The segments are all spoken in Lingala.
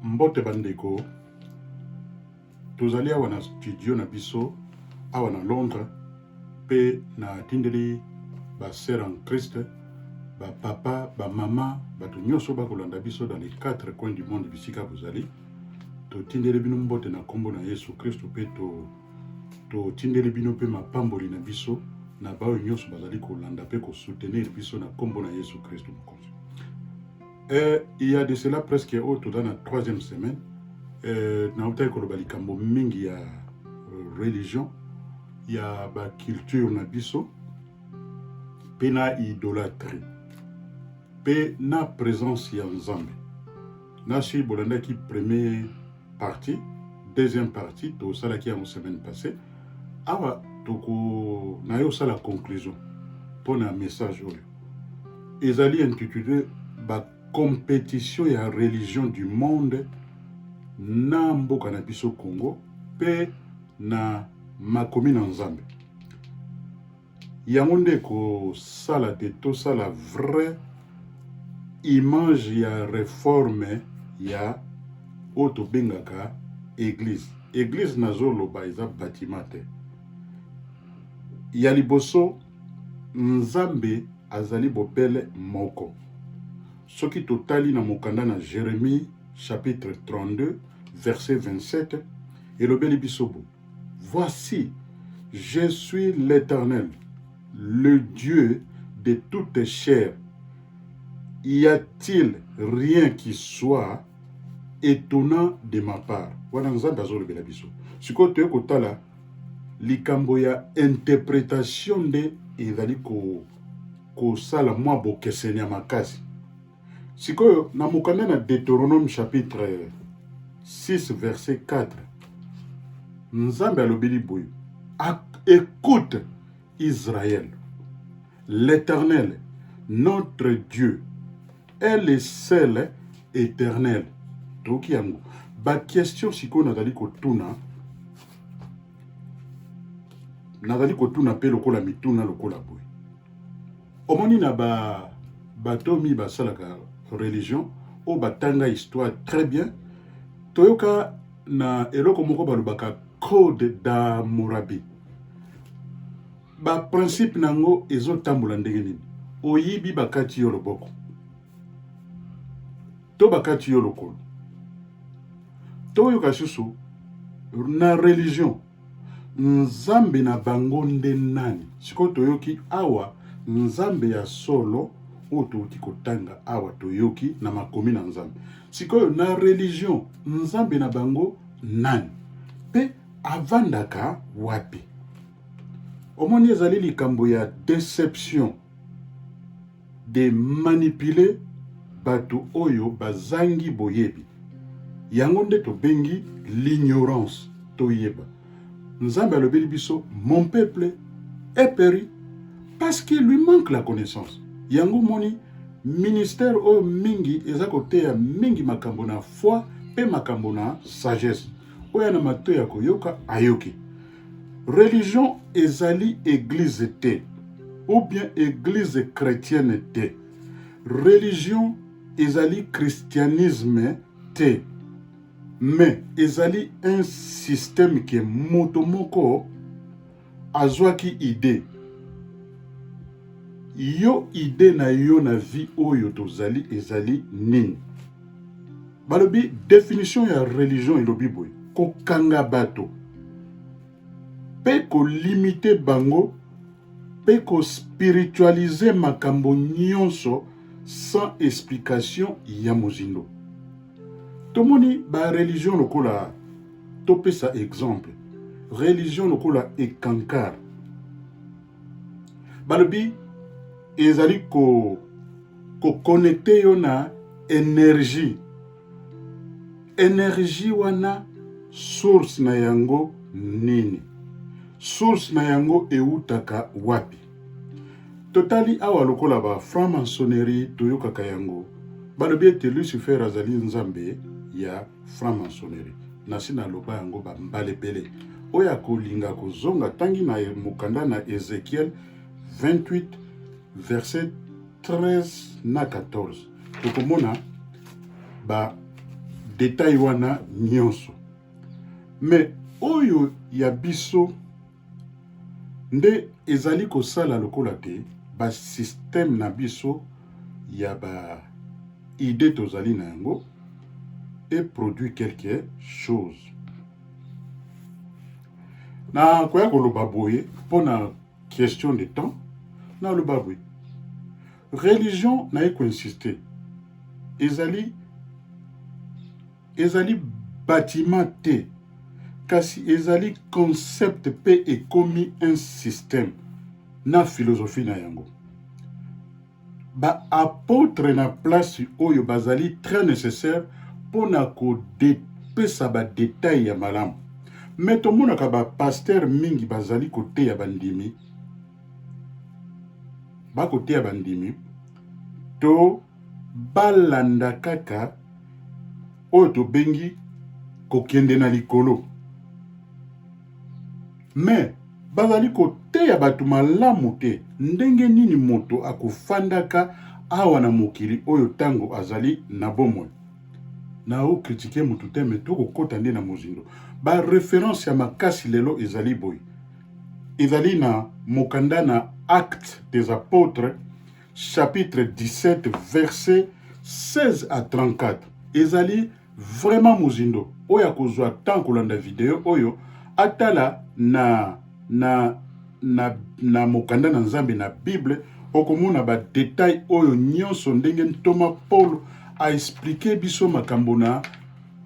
Mbote bandeko, tozali awa na studio na biso awa na Londres mpe natindeli basere en Christ bapapa bamama bato nyonso bakolanda biso dans les quatre coins du monde bisika bozali totindeli bino mbote na nkombo na Yesu Kristo mpe to totindeli bino mpe mapamboli na biso na baoyo nyonso bazali kolanda mpe kosoutenir biso na nkombo na yesu kristo mokonzi eh, il y a de cela presque oyo toza na troisième semaine eh, nautaki koloba likambo mingi ya euh, religion ya baculture na biso mpe na idolatrie mpe na présence ya nzambe nasi bolandaki premier partie deuxième partie tosalaki yango semaine passée awa toko na yo osala conclusion mpo na message oyo ezali intitulé bacompétition ya religion du monde na mboka na biso congo mpe na makomi na nzambe yango nde ekosala te tosala vrai image ya reforme ya oyo tobengaka eglise eglise nazoloba eza batima te ya liboso nzambe azali bobele moko soki totali na mokanda na jeremie chapitre 32 verset 27 elobeli biso bo Voici, je suis l'Éternel, le Dieu de toute chair. Y a-t-il rien qui soit étonnant de ma part? Wana Nzambe azolobela biso. Sikoyo toye kotala likambo ya interpretation nde ezali kosala mwa bokeseni ya makasi. Sikoyo na mokanda na Deuteronome chapitre 6 verset 4 Nzambe alobeli boye écoute Israël l'Éternel notre Dieu est le seul éternel toyoki yango bakestion sikoyo nazali kotuna nazali kotuna mpe lokola mituna lokola boye Omoni na ba bato mi basalaka religion oyo batanga histoire très bien toyoka na eloko moko balobaka code d'amurabi baprincipe na yango ezotambola ndenge nini oyibi bakati yo loboko to bakati yo lokolo toyoka susu na religion Nzambe na bango nde nani? Sikoyo toyoki awa Nzambe ya solo oyo touti kotanga awa, toyoki na makomi na Nzambe. Sikoyo na religion, Nzambe na bango nani mpe avandaka wapi? Omoni, ezali likambo ya deception. de manipuler bato oyo bazangi boyebi. Yango nde tobengi l'ignorance. Toyeba Nzambe alobeli biso mon peuple est peri parce qu'il lui manque la connaissance. Yango moni ministère oyo mingi eza koteya mingi makambo na foi mpe makambo na sagesse. Oyo na mato ya koyoka ayoki. Religion ezali eglise te ou bien eglise chrétienne te. Religion ezali christianisme te. Mais ezali un système que moto moko azwaki idée yo idée na yo na vie oyo tozali ezali nini balobi definition ya religion elobi boye kokanga bato mpe kolimite bango mpe kospiritualize makambo nyonso sans explication ya mozindo tomoni bareligion lokola topesa exemple religion lokola ekankar balobi ezali ko kokonekte yo na energie energie wana source na yango nini source na yango ewutaka wapi totali awa lokola ba franc maçonnerie toyokaka yango balobi ete lucifer azali nzambe ya franc maçonnerie nasi naloba yango bambala ebele oyo akolinga kozonga tangi na mokanda na ezekiel 28 verset 13 na 14 tokomona ba detail wana nyonso me oyo ya biso nde ezali kosala lokola te basysteme na biso ya ba idée tozali na yango eproduit quelque chose na koya koloba boye mpo na question de temps naloba boye religion naye koinsiste ezali Ezali bâtiment te kasi ezali concept pe ekomi un système na philosophie na yango. Ba apotres na place oyo bazali très nécessaire mpo na kopesa ba details ya malamu. Mais tomonaka ba pasteurs mingi bazali koteya bandimi, bakoteya bandimi to balanda kaka oyo tobengi kokende na likolo me bazali koteya bato malamu te ndenge nini moto akofandaka awa na mokili oyo ntango azali na bomoi na okritike motu te me tokokɔta nde na mozindo bareference ya makasi lelo ezali boye ezali na mokanda na acte des apotres chapitre 17 verset 16 à 34 ezali vraiment mozindo oyo akozwa temps kolanda video oyo atala na na na, na mokanda na nzambe na bible okomona badetail oyo nyonso ndenge ntoma paulo aexplike biso makambo na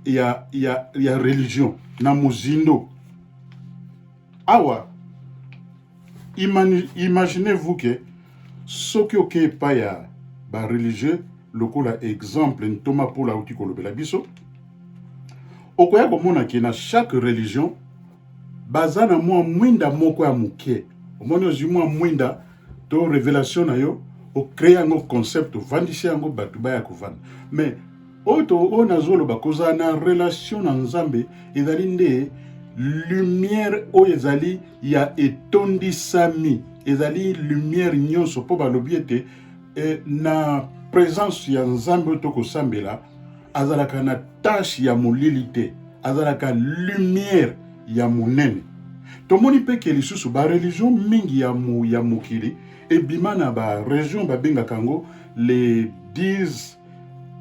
ya, ya, ya religion na mozindo awa imaginez vous que soki oke epai ya bareligieux lokola exemple ntoma polo auti kolobela biso okoya komona ke na chaque religion baza na mwa mwinda moko ya moke omoni ozwi mwa mwinda to revelation na yo ocree yango concept ovandisi yango bato baya kovanda mais Oto oyo nazoloba kozala na relation na Nzambe ezali nde lumière oyo ezali ya etondisami ezali lumière nyonso mpo balobi ete eh, na présence ya Nzambe oyo tokosambela azalaka na tache ya molili te azalaka lumière ya monene tomoni mpe ke lisusu bareligion mingi ya, mo, ya mokili ebima na baregion babengaka yango les 10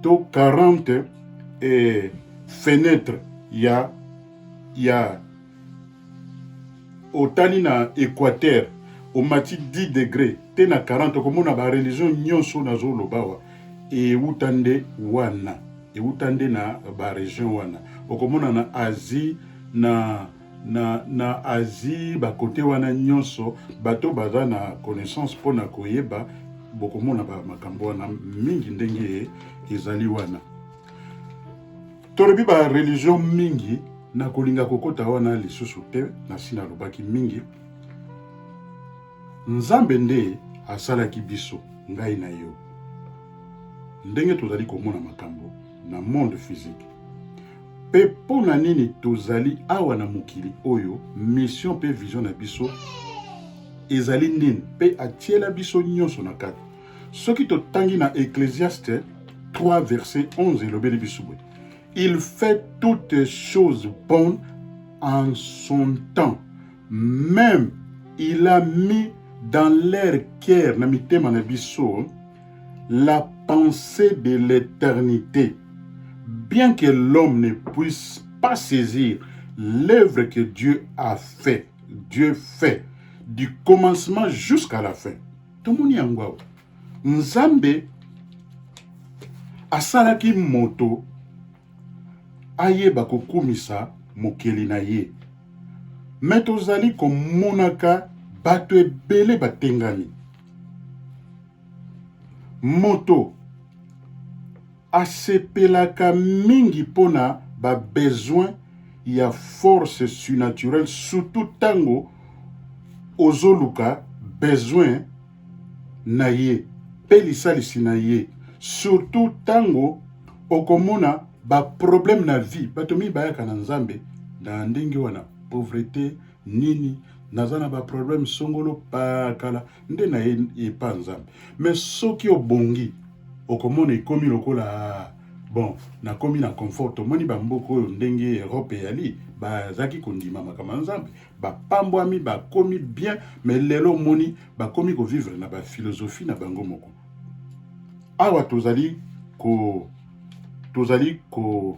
to 40 eh, fenetre ya ya otali na équateur omati 10 degre te na 40 okomona bareligion nyonso nazoloba awa euta nde wana euta nde na baregion wana okomona na asie na na, na Asie bakote wana nyonso bato baza na connaissance mpo na koyeba bokomona ba makambo wana mingi ndenge ezali wana tolobi ba religion mingi na kolinga kokota wana lisusu te nasi nalobaki mingi nzambe nde asalaki biso ngai na yo ndenge tozali komona makambo na monde physique mpe mpo na nini tozali awa na mokili oyo mission mpe vision na biso ezali nini mpe atiela biso nyonso na kati soki totangi na ecclesiaste 3 verset 11 elobeli biso boye il fait toutes choses bonnes en son temps même il a mis dans leur cœur na mitema na biso La pensée de l'éternité. Bien que l'homme ne puisse pas saisir l'œuvre que Dieu a fait, Dieu fait, du commencement jusqu'à la fin. Tomoni yango awa. Nzambe asalaki moto ayeba kokumisa mokeli na ye me tozali komonaka bato ebele batengami moto asepelaka mingi mpo na babesoin ya force surnaturelle surtout ntango ozoluka besoin na ye mpe lisalisi na ye surtout ntango okomona baproblème na vie bato mingi bayaka na nzambe na ndenge wana pauvrete nini naza na baproblème songolo pakala nde na ye epa nzambe me soki obongi okomona ekomi lokola bon nakomi na confort tomoni bamboka oyo ndenge europe eyali bazalaki kondima makambo ya nzambe bapambwami bakomi bien me lelo omoni bakomi kovivre na bafilosophie na bango moko awa tozali ko tozali ko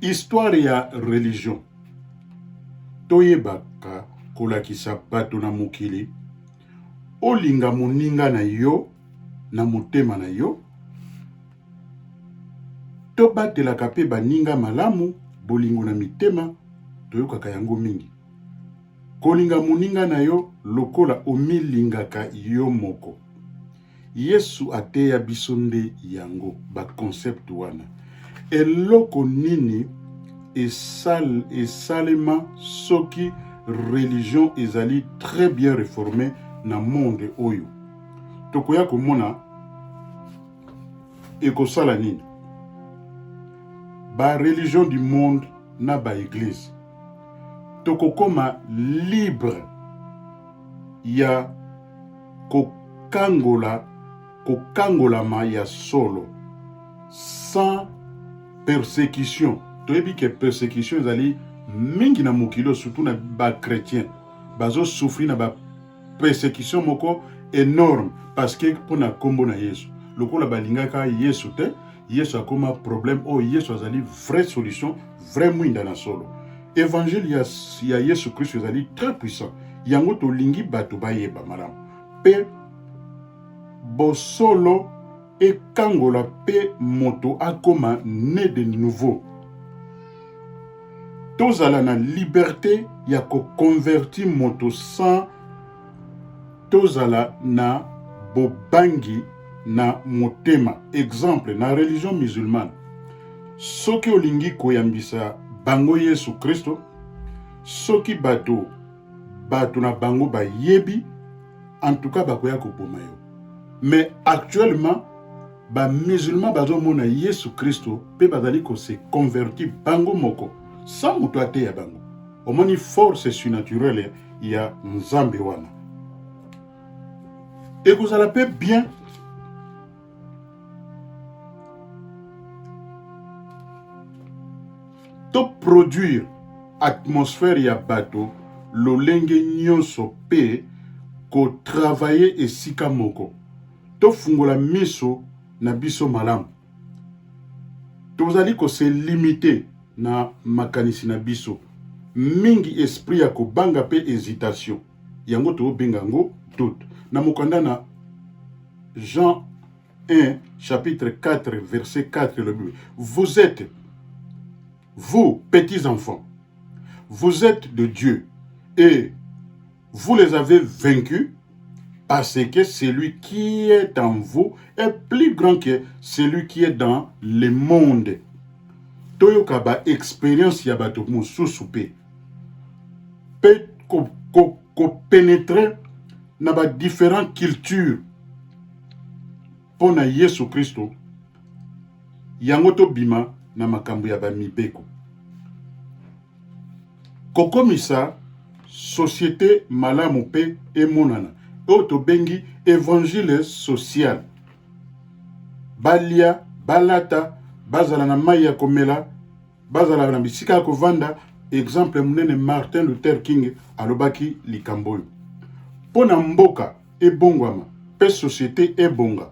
Histoire ya religion toyebaka kolakisa bato na mokili olinga moninga na yo na motema na yo tobatelaka mpe baninga malamu bolingo na mitema toyokaka yango mingi kolinga moninga na yo lokola omilingaka yo moko Yesu ateya biso nde yango baconcept wana. Eloko nini esal, esalema soki religion ezali très bien reforme na monde oyo tokoya komona ekosala nini ba religion du monde na ba eglise tokokoma libre ya kokangola kokangolama ya solo sans persecution toyebi ke persecution ezali mingi na mokili oyo surtout na bachrétien bazosufri na ba persecution moko enorme parce que mpo na nkombo na yesu lokola balingaka yesu te yesu akoma problème oyo yesu azali vraie solution vrai mwinda na solo evangile ya, ya yesu kristo ezali très puissant yango tolingi bato bayeba malamu mpe bosolo ekangola mpe moto akoma ne de nouveau tozala na liberte ya koconverti moto sans Tozala na bobangi na motema. Exemple, na religion musulmane, soki olingi koyambisa bango Yesu Kristo, soki bato bato na bango bayebi, en tout cas bakoya koboma yo. Mais actuellement bamusulman bazomona Yesu Kristo mpe bazali kose converti bango moko sans moto ateya bango. omoni force surnaturelle ya nzambe wana ekozala mpe bien toproduire atmosphère ya bato lolenge nyonso mpe kotravaye esika moko tofungola miso na biso malamu tozali kose limite na makanisi na biso mingi esprit ya kobanga mpe hesitation yango tobenga yango doute na mokanda na jean 1 chapitre 4 verset 4 elobi vous êtes vous petits enfants vous êtes de dieu et Vous les avez vaincus parce que celui qui est en vous est plus grand que celui qui est dans le monde. toyoka ba expérience ya bato mosusu mpe mpe kopénétre ko, ko na ba différent culture mpo na yesu kristo yango tobima na makambo ya bamibeko kokomisa societe malamu mpe emonana oyo tobengi evangile social balia balata bazala na mai ya komela bazala na bisika ya kovanda exemple monene martin luther king alobaki likambo oyo mpo na mboka ebongwama mpe societe ebonga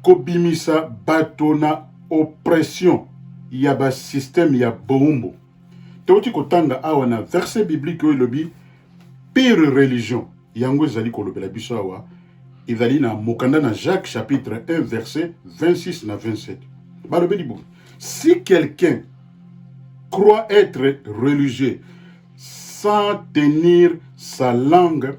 kobimisa bato na oppression ya basysteme ya boumbu toti kotanga awa na verset biblique oyo elobi pire religion yango ezali kolobela biso awa ezali na mokanda na jacques chapitre 1 verset 26 na 27 balobeli boye si quelqu'un croit être religieux sans tenir sa langue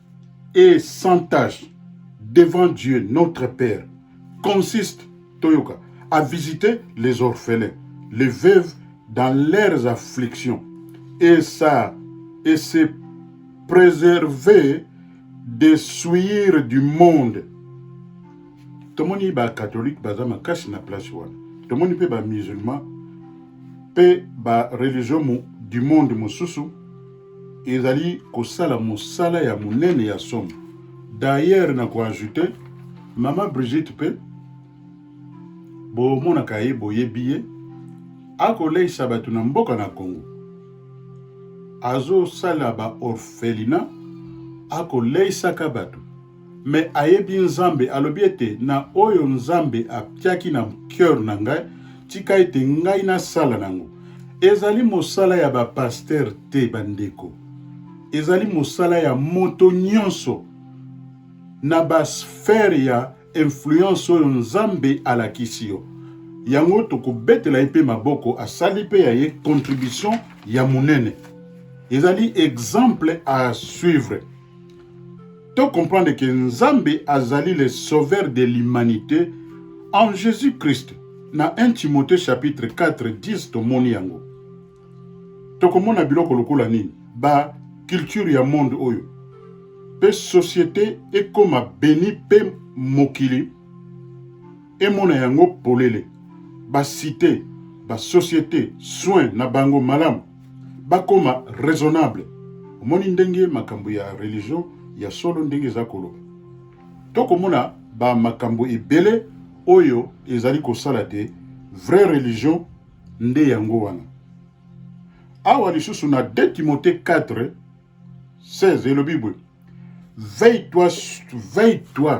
et sans tâche devant Dieu notre Père consiste toyoka à visiter les orphelins, les veuves dans leurs afflictions et ça et se préserver des souillures du monde. Tomoni ba catholique baza makasi na place wana. Tomoni pe ba musulman pe ba religion du monde mususu ezali kosala mosala ya monene ya somo. D'ailleurs na koajoute mama Brigitte mpe bomonaka ye boyebi ye akoleisa bato na mboka na Congo, azosala ba orphelina akoleisaka bato me ayebi Nzambe, alobi ete na oyo Nzambe atiaki na cœur na ngai, tika ete ngai nasala nango. Ezali mosala ya ba pasteur te, bandeko. Ezali mosala ya moto nyonso na ba sphère ya influence oyo Nzambe alakisi yo. Yango tokobetela ye mpe maboko, asali mpe ya ye contribution ya monene. Ezali exemple à suivre. To comprendre que Nzambe azali le sauveur de l'humanité en Jésus-Christ. Na 1 Timothée chapitre 4 10 tomoni yango. Tokomona biloko lokola nini? Ba culture ya monde oyo pe société ekoma beni pe mokili emona yango polele ba cité ba société soin na bango malamu bakoma raisonnable omoni ndenge makambo ya religion ya solo ndenge eza koloba tokomona ba makambo ebele oyo ezali kosala te vraie religion nde yango wana awa lisusu na 2 timote 4 16 elobi boye veille toi veille toi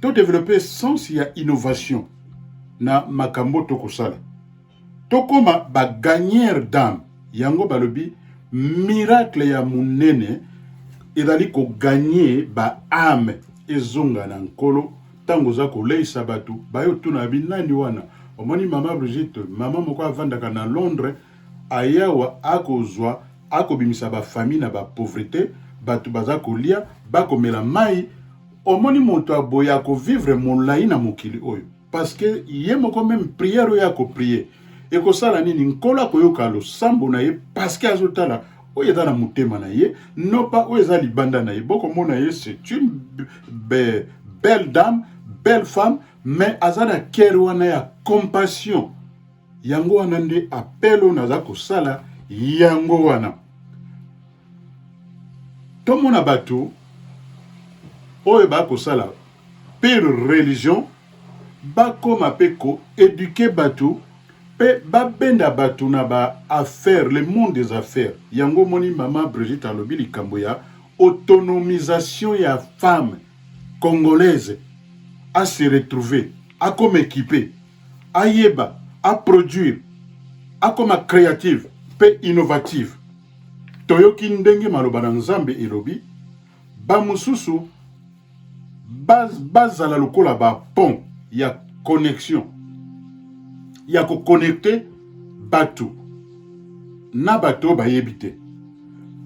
to develope sens ya innovation na makambo tokosala tokoma bagagnere dame yango balobi miracle ya monene ezali koganye baame ezonga na nkolo ntango oza koleisa bato bayotuna yabi nani wana omoni mama brigitte mama moko avandaka na londres ayawa akozwa akobimisa bafamille na bapauvreté bato baza kolia bakomela mai omoni moto ya boye akovivre molai na mokili oyo parceke ye moko meme priere oyo akoprie ekosala nini nkolo akoyoka losambo na ye parceke azotala oyo eza na motema na ye nopa oyo eza libanda na ye bokomona ye c'est une be, belle dame belle femme mais aza na kere wana ya compassion yango wana nde apele oyo naza kosala yango wana tomona bato oyo bakosala mpe religion bakoma mpe koeduke bato mpe babenda bato na ba affaire le monde des affaires yango omoni mama brigitte alobi likambo ya autonomisation ya femme congolaise a se retrouver akoma ekipe ayeba aproduire akoma créative mpe innovative Toyoki ndenge maloba na Nzambe elobi, bamosusu bazala ba lokola bapont ya connexion ya kokonekte bato na bato bayebi te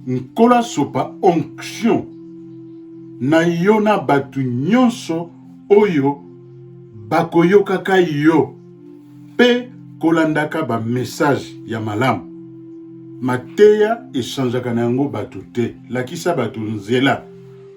nkolo asopa onction na yo na bato nyonso oyo bakoyokaka yo mpe kolandaka bamessage ya malamu. Mateya echangeaka na yango bato te. Lakisa bato nzela.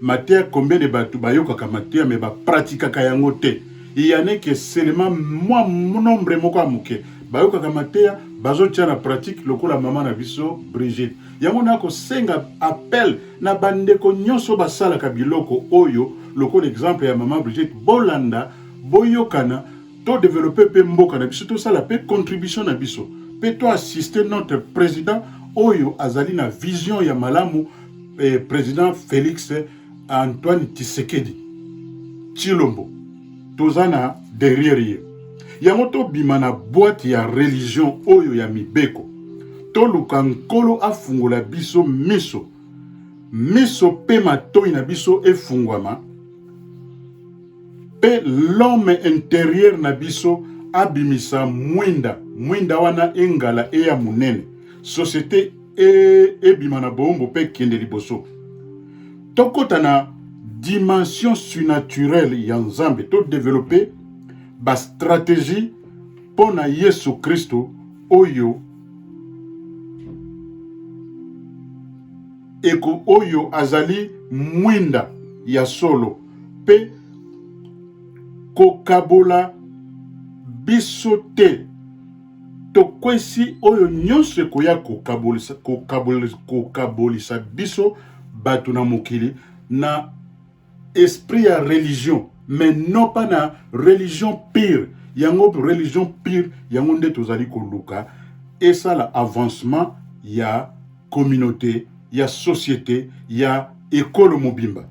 Mateya combien de bato bayokaka mateya me bapratikaka yango te. Yaneke selema mwa nombre moko ya moke bayokaka mateya bazotia na pratique lokola mama na biso Brigitte. Yango nakosenga appel na bandeko nyonso basalaka biloko oyo lokola exemple ya mama Brigitte, bolanda boyokana to developpe pe mboka na biso tosala pe contribution na biso pe to assister notre président oyo azali na vision ya malamu eh, président Félix Antoine Tshisekedi Chilombo toza na derrière ye yango tobima na boîte ya religion oyo ya mibeko toluka nkolo afungola biso miso miso pe matoi na biso efungwama Pe l'homme interieur na biso abimisa mwinda mwinda wana engala eya monene societe e, ebima na boombo pe kende liboso tokota na dimension surnaturelle ya nzambe to develope bastratégie mpo na yesu kristo oyo eko oyo azali mwinda ya solo mpe kokabola biso te tokwesi oyo nyonso ekoya kokabolisa, kokabolisa, kokabolisa biso bato na mokili na esprit ya religion mais non pas na religion pire yango religion pire yango nde tozali koluka esala avancement ya communauté ya société ya ekolo mobimba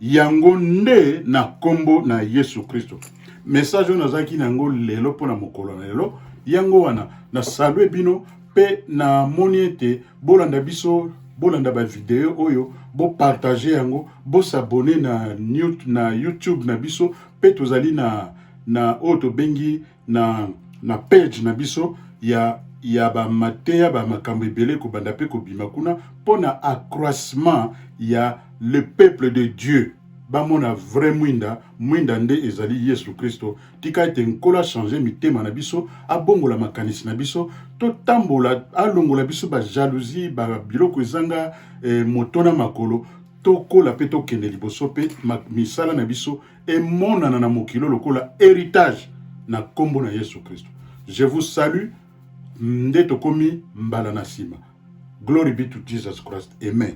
yango nde na nkombo na yesu kristo message oyo nazalaki na yango lelo mpo na mokolo na lelo yango wana nasalue bino mpe namoni ete bolanda biso bolanda bavideo oyo bopartage yango bosabone na, na youtube na biso mpe tozali na, na oyo tobengi na, na page na biso ya, ya bamateya ba makambo ebele ekobanda mpe kobima kuna mpo na accroissement ya le peuple de Dieu bamona vrai mwinda mwinda nde ezali yesu kristo tika ete nkolo achange mitema na biso abongola makanisi na biso totambola alongola biso bajalousie babiloko ezanga eh, moto na makolo tokola mpe tokende liboso mpe misala na biso emonana na mokilo lokola heritage na nkombo na Yesu Kristo. Je vous salue nde tokomi mbala na nsima. Glory be to Jesus Christ. Amen.